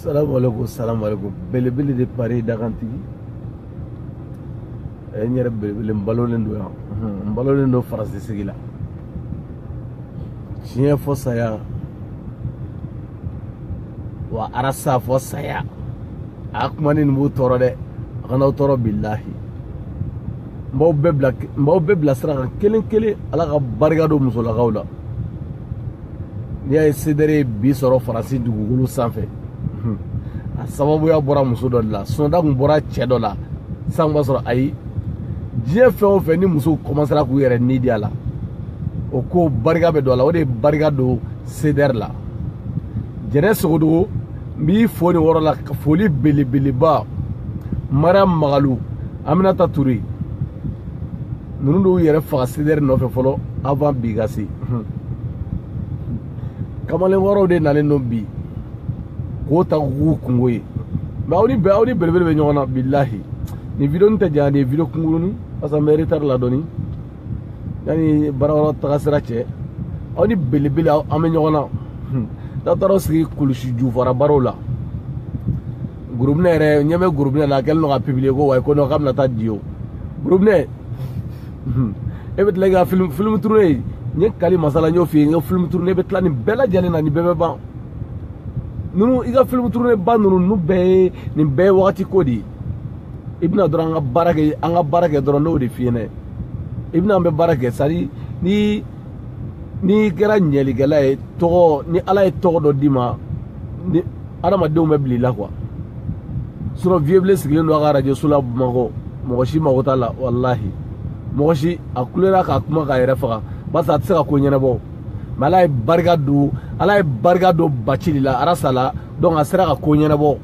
salamu aleykum salamu aleykum belebele de pari dagantigi eh, n yɛrɛ belebele n balolen don yan n balolen don faransi sigi la tiɲɛ fɔ saya wa arasa fɔ saya a kumani nin b'u tɔɔrɔ dɛ a kana aw tɔɔrɔ bilahi n b'aw bɛɛ bila sira kan kelen kelen ala ka barika don musolakaw la n'i y'a ye sedɛri ye bi sɔrɔ faransi dugukolo sanfɛ a sababuya bɔra muso dɔ de la sinɔn n'a kun bɔra cɛ dɔ la est-ce qu'an b'a sɔrɔ ayi diɲɛ fɛn o fɛn ni musow kɔmansera k'u yɛrɛ ni di a la o ko barika bɛ don a la o de barika don sedɛri la jɛnɛ sogodogo n b'i fo nin yɔrɔ la foli belebeleba mariam magalu aminata ture ninnu de y'u yɛrɛ faga sedɛri nɔfɛ fɔlɔ avan bi ka se kamalen wɛrɛw de nalen don bi k'o ta k'u kunko ye mɛ aw ni belebele bɛ ɲɔgɔn na bilahi nin video nin tɛ janya nin ye video kunkurunin parce que an bɛ retard la dɔɔni yanni baarayɔrɔ taga sira cɛ aw ni belebele an bɛ ɲɔgɔn na n'a taara aw sigi kulusi jufara barow la gurubinɛ yɛrɛ ɲɛ bɛ gurubinɛ la a kɛlen don ka publier ko wayi ko nɔ k'a bɛna taa di o gurubinɛ e bɛ tila k'i ka filimu turune n ye kali masala n y'o f'i ye i ka filimu turune i bɛ tila nin bɛɛ lajɛlen na nin bɛɛ bɛ ban ninnu i ka filimu turune ba ninnu ninnu bɛɛ ye nin bɛɛ ye wagati ko de ye i bɛ na dɔrɔn an ka baara kɛ dɔrɔn n y'o de f'i ɲɛna i bɛ na an bɛ baara kɛ c'est-à-dire ni n'i kɛra ɲɛlikɛla ye tɔgɔ ni ala ye tɔgɔ dɔ d'i ma ni adamadenw bɛ bila i la quoi sinɔn viyebilen sigilen don a ka arajoso la bamakɔ mɔgɔ si mago t'a la walahi mɔgɔ si a kulera k'a kuma k'a yɛrɛ faga barisa a tɛ se ka ko ɲɛnabɔ mɛ ala ye barika don ala ye barika don bacili la arasa la donc a sera ka ko ɲɛnabɔ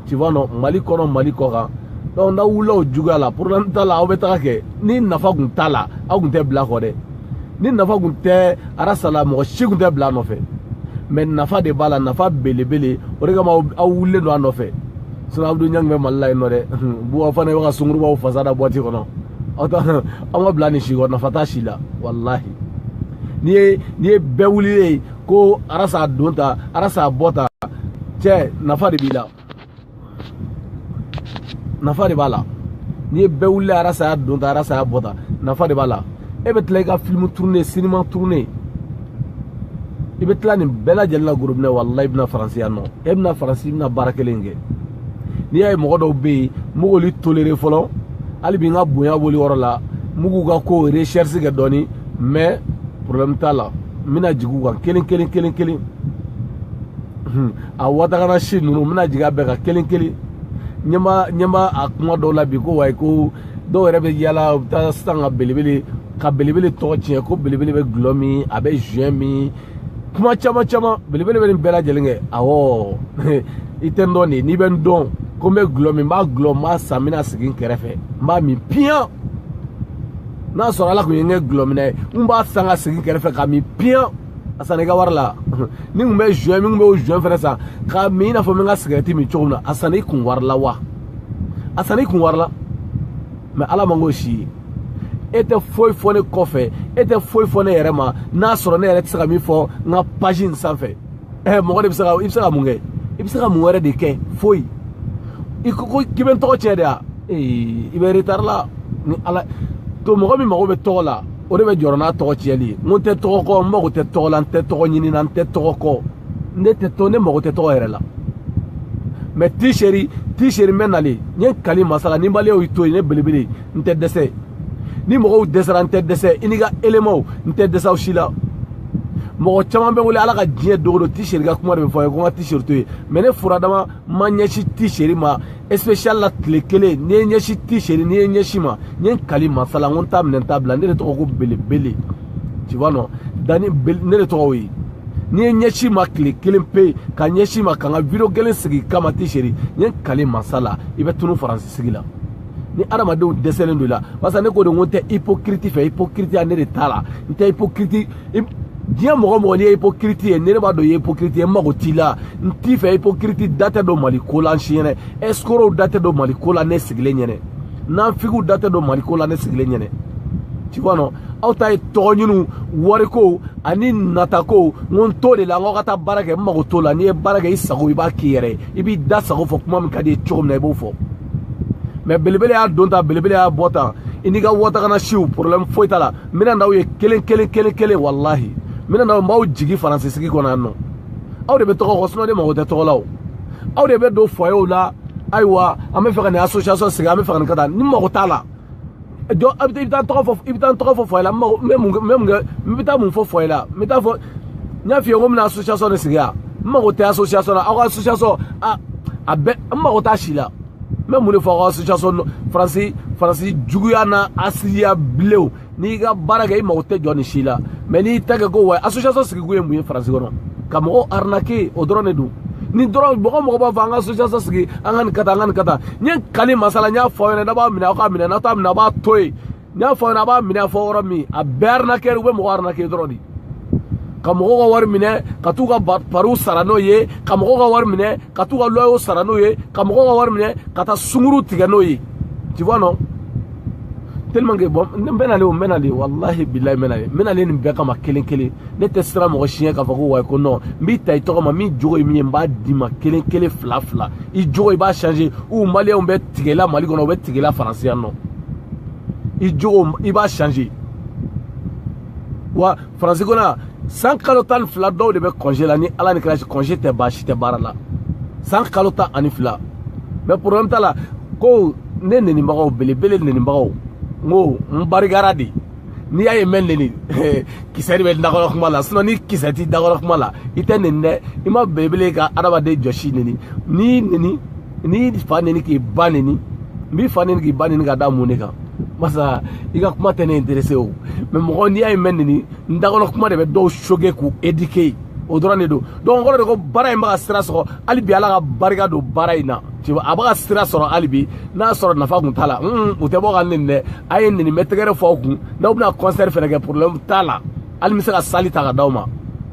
tu vois non mali kɔnɔ mali kɔ kan donc n'aw wulila o juguya la problème t'a la aw bɛ taga kɛ ni nafa kun t'a la aw kun tɛ bila a kɔ dɛ ni nafa kun tɛ arasa la mɔgɔ si kun tɛ bila a nɔfɛ mais nafa de b'a la nafa belebele o de kama aw wulilen don a nɔfɛ sinɔn abudu ɲangi bɛ mali la yen nɔ dɛ buba fane bɛ ka sungurubaw fasa da boîte kɔnɔ aw ta aw ma bila nin si kɔ nafa t'a si la walahi n'i ye bɛɛ wulilen ye ko arasa y'a don tan arasa y'a bɔ tan cɛ nafa de b'i la nafa de b'a la n'i ye bɛɛ wuli arasa y'a don tan arasa y'a bɔ tan nafa de b'a la e bɛ tila i ka filimu turune sinima turune i bɛ tila nin bɛɛ lajɛlen la gorobinɛ walayi i bɛ na faransi yan nɔ e bɛ na faransi i bɛna baara kelen kɛ n'i y'a ye mɔgɔ dɔw bɛ yen n bɛ k'olu tolere fɔlɔ hali bi n ka bonya b'olu yɔrɔ la n bɛ k'u ka ko recherche kɛ dɔɔni mais problème t'a la n bɛna jigin u kan kelen kelen kelen kelen a watagana si ninnu n bɛna jigin a bɛɛ kan kelen kelen ɲɛ b'a ɲɛ b'a a kuma dɔw la bi ko wayi ko dɔw yɛrɛ bɛ yaala u bɛ taa sisan ka belebele ka belebele tɔgɔ tiɲɛ ko belebele bɛ gulɔ min a bɛ zuwɛn min kuma caman caman belebele bɛ nin bɛɛ lajɛlen kɛ awɔ i tɛ n dɔn de n'i bɛ n dɔn ko n bɛ gulɔ min n b'a gulɔ n b'a san n bɛna sigi n kɛrɛfɛ n b'a min piyan n'a sɔrɔ ala kun ye n kɛ gulɔminna ye n b'a san ka sigi n kɛrɛfɛ k'a min piyan a sanna i ka wari la ni kun bɛ zuwɛn min kun bɛ o zuwɛn fɛnɛ san k'a min i n'a fɔ n bɛ n ka sigarɛti min cogo min na a sanna i kun wari la wa a sanna i kun wari la mɛ ala ma n k'o si ye e tɛ foyi fɔ ne kɔfɛ e tɛ foyi fɔ ne yɛrɛ ma n'a sɔrɔ ne yɛrɛ tɛ se ka min fɔ n ka pazi in sanfɛ ɛ mɔgɔ de bɛ se ka i bɛ se ka mun kɛ i bɛ se ka mun wɛrɛ de kɛ foyi i ko ko k'i bɛ n tɔgɔ tiɲɛ de wa ee i bɛ retari la ni ala to mɔgɔ min mago bɛ tɔgɔ la o de bɛ jɔrɔ n'a tɔgɔ tiɲɛli ye n ko n tɛ tɔgɔ kɔ n mago tɛ tɔgɔ la n tɛ tɔgɔ ɲini na n tɛ tɔgɔ kɔ ne tɛ tɔgɔ ne mago tɛ tɔgɔ yɛrɛ la mɛ tiseri tiseri n bɛ nalen n ye n kali masa la ni maliyɛnw y'i to yen ne belebele n tɛ dɛsɛ ni mɔgɔw dɛsɛra n tɛ dɛsɛ i n'i ka elemaw n tɛ dɛsɛ aw si la mɔgɔ caman bɛ n wele ala ka diɲɛ don go don ti seri ka kuma de bɛ fɔ a ye ko n ka ti seri to yen mɛ ne furadama ma ɲɛsin ti seri ma spécial la tile kelen n'i ye ɲɛsin ti seri n'i ye ɲɛsin ma n ye n kali masa la n ko n t'a minɛ n t'a bila ne de tɔgɔ ko belebele tu vois non dani ne de tɔgɔ o ye n'i ye ɲɛsin ma tile kelen pe ka ɲɛsin ma ka n ka video kelen sigi i kama ti seri n ye n kali masa la i bɛ tunu faransi sigi la ni adamadenw dɛsɛlen don i la barisa ne ko de n ko n tɛ hypocrite fɛ hypocriteya ne de t'a la n tɛ hypocrite diɲɛ mɔgɔ o mɔgɔ n'i ye hypocrite ye ne de b'a dɔn i ye hypocrite ye n mago t'i la n t'i fɛ hypocrite da tɛ don mali ko la n si ɲɛnɛ escrocs da tɛ don mali ko la ne sigilen ɲɛnɛ nafigiw da tɛ don mali ko la ne sigilen ɲɛnɛ tu vois non aw ta ye tɔgɔ ɲiniw wariko ani natako n ko n t'o de la n k'aw ka taa baara kɛ n mago t'o la n'i ye baara kɛ i sago i b'a k'i yɛrɛ ye i b'i da sago fɔ kuma min ka di i ye cogo min na i b'o fɔ mɛ belebele y'a don tan belebele y'a bɔ tan i n'i ka wɔtagana siw problème foyi t'a la n bɛna n'aw ye kelen kelen kelen kelen walahi n bɛna n'aw n b'aw jigi faransi sigi kɔnɔ yan nɔ aw de bɛ tɔgɔ kɔ sinɔn ne mago tɛ tɔgɔ la o aw de bɛ don foyew la ayiwa an bɛ fɛ ka nin association sigi an bɛ fɛ ka nin ka taa ne mago t'a la jɔ i bɛ taa tɔgɔ fɔ i bɛ taa tɔgɔ fɔ fɔyɛ la n mago n bɛ mun n bɛ mun kɛ n bɛ taa mun fɔ fɔyɛ la n bɛ taa fɔ n y'a f'i ye ko n bɛna association de sigi yan n mago tɛ association la aw ka association a a bɛɛ n mago t'a si la n bɛ mun de fɔ aw ka association faransi faransi juguyana asiliya bilenw n'i ka baara kɛ i mago tɛ jɔn si la mɛ n'i t'a kɛ quoi association sigikun ye mun ye faransi kɔnɔ. ka mɔgɔw arnaquer o dɔrɔn de don ni dɔrɔn mɔgɔ mɔgɔ b'a fɔ an ka association sigi an ka nin ka taa an ka nin ka taa n ye kali masa la n y'a fɔ aw ɲɛna n'a b'a minɛ aw k'a minɛ n'a t'a minɛ a b'a to yen n y'a fɔ aw ɲɛna a b'a minɛ a fɔ yɔrɔ min a bɛɛ arnaqueur u bɛ mɔgɔ arnaquer dɔrɔn de ka mɔgɔw ka wari minɛ ka t'u ka pariw sara n'o ye ka mɔgɔw ka wari minɛ ka t'u ka loyer sara n'o ye ka mɔgɔw ka wari minɛ ka taa sunguru tigɛ n'o ye tu vois non tellement que bon n bɛ na le o n bɛ na le walahi bilahi n bɛ na le n bɛ na le nin bɛɛ kama kelen kelen ne tɛ siran mɔgɔ si ɲɛ k'a fɔ ko wayi ko non n b'i ta i tɔgɔ ma min jogo ye min ye n b'a d'i ma kelen kelen fila fila i jogo i b'a changer u maliyɛnw bɛ tigɛla mali kɔnɔ u bɛ tigɛla faransi yan nɔ i jogo i b'a changer wa faransi kɔnɔ san kalo tan ni fila dɔw de bɛ congé la ni ala ni kira cɛ congé tɛ ban si tɛ baara la san kalo tan ani fila mais problème t'a la ko ne nenibagaw belebele nenibagaw n ko n barikara de n'i y'a ye n bɛ neni kisɛ de bɛ dakɔnɔ kuma la sinon ni kisɛ t'i dakɔnɔ kuma la i tɛ neni dɛ i ma belebele ka adamaden jɔsi neni n'i neni n'i fa neni k'i ba neni n b'i fa neni k'i ba neni ka da mun de kan masa i ka kuma tɛ ne intéresser o mais mɔgɔ n'i y'a ye n bɛ neni n dakɔnɔ kuma de bɛ dɔw choquer k'u éduquer o dɔrɔn de don donc n kɔrɔ de ko baara in bɛ ka sira sɔrɔ hali bi ala ka barika don baara in na a bɛ ka sira sɔrɔ hali bi n'a sɔrɔ nafa kun t'a la u tɛ bɔ ka neni dɛ a ye neni n bɛ tɛgɛrɛ fɔ aw kun n'aw bɛna concert fɛnɛ kɛ problème t'a la hali n bɛ se ka salle ta ka d'aw ma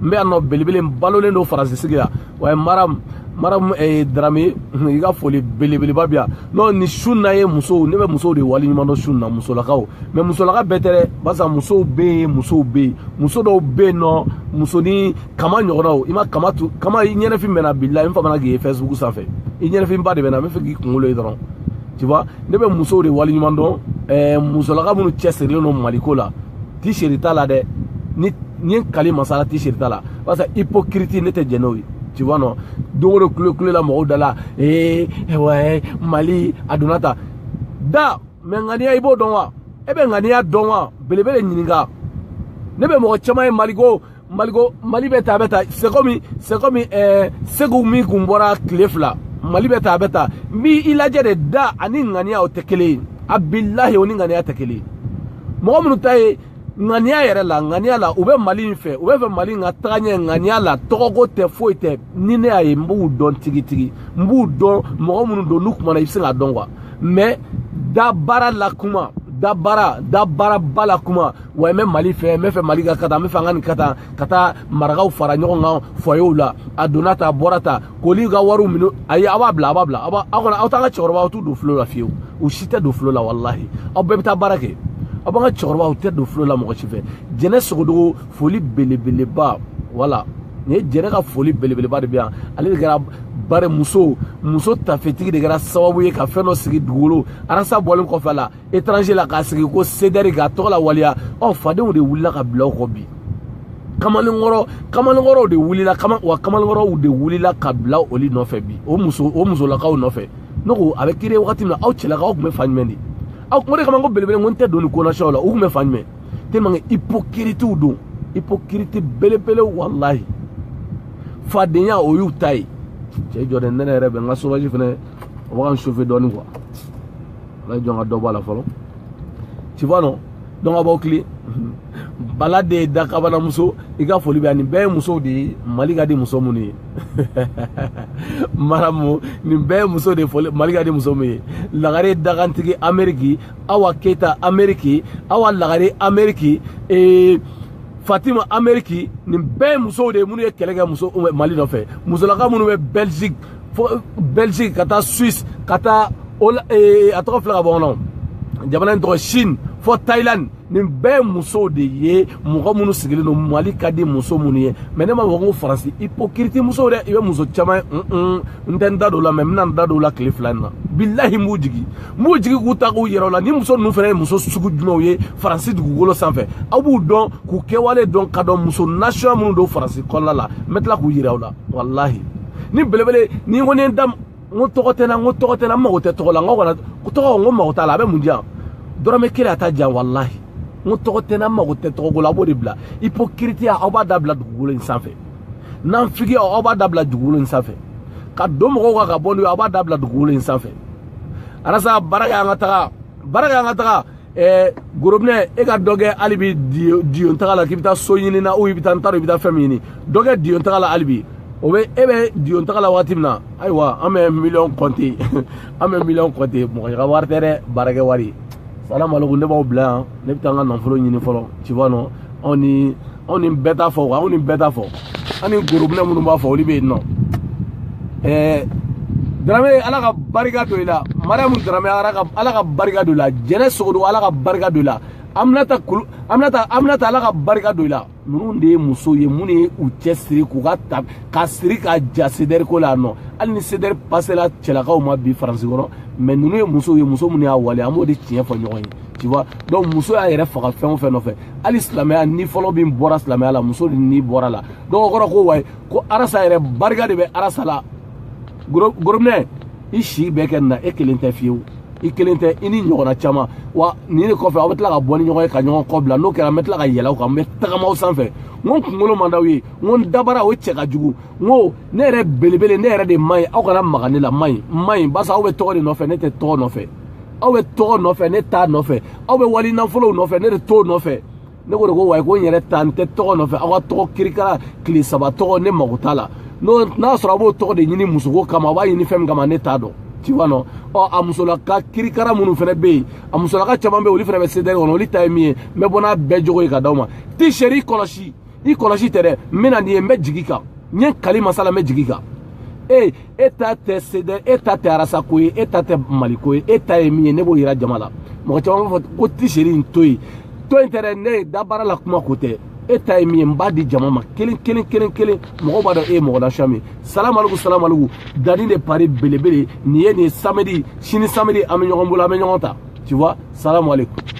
n bɛ yan nɔ belebele n balolen don faransi sigi la wa ye maramu maramu eh, darame i ka foli belebeleba bi yan n'o ni su na ye musow ne bɛ musow de wali ɲuman dɔn su na musolakaw mais musolaka bɛɛ tɛ dɛ barisa musow bɛ yen musow bɛ yen muso dɔw bɛ yen nɔ musonin kama ɲɔgɔnna o i ma kama tu kama i ɲɛnafin bɛ n na bilahi n famana k'i ye facebook sanfɛ i ɲɛnafinba de bɛ n na n bɛ fɛ k'i kunkolo ye dɔrɔn tu vois ne bɛ musow de wali ɲuman dɔn ɛɛ musolaka minnu cɛsirilen don maliko la tricherie t'a la dɛ ni ni ye kali masa la tricherie t'a la barisa hypocrite ne tɛ jɛn n'o ye tu vois non don o don kule kule la mɔgɔw da la ee ouais mali a donna ta da mais ŋaniya i b'o dɔn wa e bɛ ŋaniya dɔn wa belebele ɲininka ne bɛ mɔgɔ caman ye maliko maliko mali bɛ ta a bɛ ta c'est comme c'est comme euh, segu min kun bɔra tile fila mali bɛ ta a bɛ ta n b'i lajɛ de da ani ŋaniya o tɛ kelen ye a bilahi o ni ŋaniya tɛ kelen ye mɔgɔ minnu ta ye ŋaniya yɛrɛ la ŋaniya la u bɛ mali in fɛ u bɛ fɛ mali in ka taga ɲɛ ŋaniya la tɔgɔko tɛ foyi tɛ ni ne y'a ye n b'u dɔn tigitigi n b'u dɔn mɔgɔ minnu don n'u kumana i bɛ se k'a dɔn quoi mais da baara la kuma da baara da baaraba la kuma wa n bɛ mali fɛ n bɛ fɛ mali ka ka taa n bɛ fɛ an ka nin ka taa ka taa marakaw fara ɲɔgɔn kan fɔyew la a donna ta a bɔra ta k'olu ka wariw minɛ ayi aw b'a bila aw b'a bila aw aw kɔni aw t'an ka cɛkɔrɔbaw aw t'u don filo la fiyewu u si tɛ don filo la walahi aw bɛɛ bɛ taa baara kɛ aw b'an ka cɛkɔrɔbaw tɛ don filo la mɔgɔ si fɛ jɛnɛ sogodogo foli belebeleba voilà nin ye jɛnɛ ka foli belebeleba de bɛ yan ale de kɛra bari muso muso tafetigi de kɛra sababu ye ka fɛn dɔ sigi dugukolo arasa bɔlen kɔfɛ a la étranger la k'a sigi ko sedɛri k'a tɔgɔ la waleya ɔ fadenw de wulila ka bila o kɔ bi kamalenkɔrɔ kamalenkɔrɔw de wulila kama wa kamalenkɔrɔw de wulila ka bila olu nɔfɛ bi o muso o musolakaw nɔfɛ ne ko a bɛ kiri wagati min na aw cɛlakaw tun bɛ fan jumɛn de aw o de kama ko belebele n ko n tɛ don nin ko nasiyaw la u tun bɛ fan jumɛn tellement que hypocritew don hypocrite belebelew walahi fadenya o y'u ta ye cɛ jɔ dɛ ne yɛrɛ bɛ n ka chauffage fɛnɛ o bɛ ka n chauffer dɔɔnin quoi ala jɔn ka dɔ bɔ a la fɔlɔ tu vois non donc a b'aw tilen bala de ye dakabana muso i ka foli bɛ yan nin bɛɛ ye musow de ye mali ka di muso minnu ye maramu nin bɛɛ ye muso de ye foli mali ka di muso min ye lagare dagantigi ameriki awa keyita ameriki awa lagare ameriki ee eh, fatima ameriki nin bɛɛ ye musow de ye minnu ye kɛlɛ kɛ muso mali nɔfɛ musolaka minnu bɛ belgique fo belgique ka taa suisse ka taa eh, a tɔgɔ filɛ ka bɔ kɔnɔ jamana in tɔgɔ chine fo thailand nin bɛɛ musow de ye mɔgɔ minnu sigilen don mali ka di muso minnu ye mɛ ne ma fɔ ko faransi ipokiriti musow dɛ i bɛ muso caman n tɛ n da don la mɛ n bɛna n da don la tile fila in na bilahi n b'u jigi n b'u jigi k'u ta k'u yira aw la ni muso ninnu fana ye muso sugu jumɛnw ye faransi dugukolo sanfɛ aw b'u dɔn k'u kɛwale dɔn ka dɔn muso nasiya minnu don faransi kɔnɔna la n bɛ tila k'u yira aw la walahi ni belebele ni ko ne da n ko tɔgɔ tɛ n na n ko tɔgɔ tɛ n na n mago tɛ tɔgɔ la n ko kana tɔgɔ n ko mago t'a la a bɛ mun di yan dɔrɔmɛ kelen a t'a di yan walahi n ko tɔgɔ tɛ n na n mago tɛ tɔgɔko la a b'o dabila ipokiritiya aw b'a dabila dugukolo in sanfɛ nanfigiya aw b'a dabila dugukolo in sanfɛ ka don mɔgɔw kan ka bɔ n'u ye aw b'a dabila dugukolo in sanfɛ arasa baara kɛ an ka taga baara kɛ an ka taga ɛɛ gorobinɛ e ka dɔ kɛ hali bi diyon taga la k'i bɛ taa so ɲini na ou i bɛ taa n t'a dɔn i bɛ taa fɛn min ɲini dɔ kɛ diyon taga la hali bi o bɛ e bɛ diyon taga la waati min na ayiwa an bɛ miliyɔn kɔnte an bɛ miliyɔn kɔnte mɔgɔ ka wari tɛ dɛ baarakɛ wari salamalekun ne b'aw bila yan ne bɛ taa n ka nafolo ɲini fɔlɔ tu vois non anw ni anw ni bɛɛ t'a fɔ wa anw ni bɛɛ t'a fɔ an ni gorobinɛ minnu b'a fɔ olu bɛ yen nɔ ɛɛ darame ala ka barika don i la mariyamu darame ala ka ala ka barika don i la jɛnɛ sogodo ala ka barika don i la aminata kulu aminata aminata ala ka barika don i la ninnu de ye muso ye minnu ye u cɛ siri k'u ka ta ka siri ka ja sedɛri ko la yan nɔ hali ni sedɛri pasela cɛlakaw ma bi faransi kɔnɔ mɛ ninnu ye musow ye muso minnu y'a wale an b'o de tiɲɛ fɔ ɲɔgɔn ye tu vois donc muso y'a yɛrɛ faga fɛn o fɛn nɔfɛ hali silamɛya ni fɔlɔ min bɔra silamɛya la muso de ni bɔra la donc o kɔrɔ ko wayi ko arasa yɛrɛ barika de bɛ arasa la gorobinɛ i si bɛɛ kɛ nin na e kelen tɛ fiyewu i kelen tɛ i ni ɲɔgɔnna caman wa nin de kɔfɛ aw bɛ tila ka bɔ ni ɲɔgɔn ye ka ɲɔgɔn kɔ bila n'o kɛra n bɛ tila ka yɛlɛ aw kan n bɛ tagama aw sanfɛ n ko n kunkolo man d'aw ye n ko n dabara o cɛ ka jugu n ko ne yɛrɛ belebele ne yɛrɛ de man ɲi aw kana maga ne la man ɲi n man ɲi barisa aw bɛ tɔgɔ de nɔfɛ ne tɛ tɔgɔ nɔfɛ aw bɛ tɔgɔ nɔfɛ ne t'a nɔfɛ aw bɛ wali nafolow nɔfɛ ne de t'o nɔfɛ ne ko de ko wayi ko n yɛrɛ ta n tɛ tɔgɔ nɔfɛ aw ka tɔgɔ kirikara tile saba tɔgɔ ne mago t'a la n'o n'a sɔrɔ a b'o tɔgɔ de ɲini musoko kama a b'a ɲini fɛn min kama ne t'a dɔn tu vois non ɔ a musolaka kirikara minnu fana bɛ yen a musolaka caman bɛ yen olu fana bɛ CDR kɔnɔ olu ta ye min ye n bɛ bɔ n'a bɛɛ jogo ye ka d'aw ma t-shirt i kɔlɔsi i kɔlɔsi tɛ dɛ n bɛ na nin ye n bɛ jigi kan n ye kali masa la n bɛ jigi kan e e ta tɛ CDR e ta tɛ arasa ko ye e ta tɛ mali ko ye e ta ye min ye ne b'o yira jama la mɔgɔ caman b'a fɔ ko t-shirt in to yen to yen tɛ dɛ ne ye dabaara la kuma ko tɛ e ta ye min ye n b'a di jama ma kelen kelen kelen kelen mɔgɔw b'a dɔn e ye mɔgɔ nasuya min ye salamaliku salamaliku dani de paris belebele nin ye nin ye samedi sini samedi an bɛ ɲɔgɔn bolo an bɛ ɲɔgɔn ta tu vois salamaliku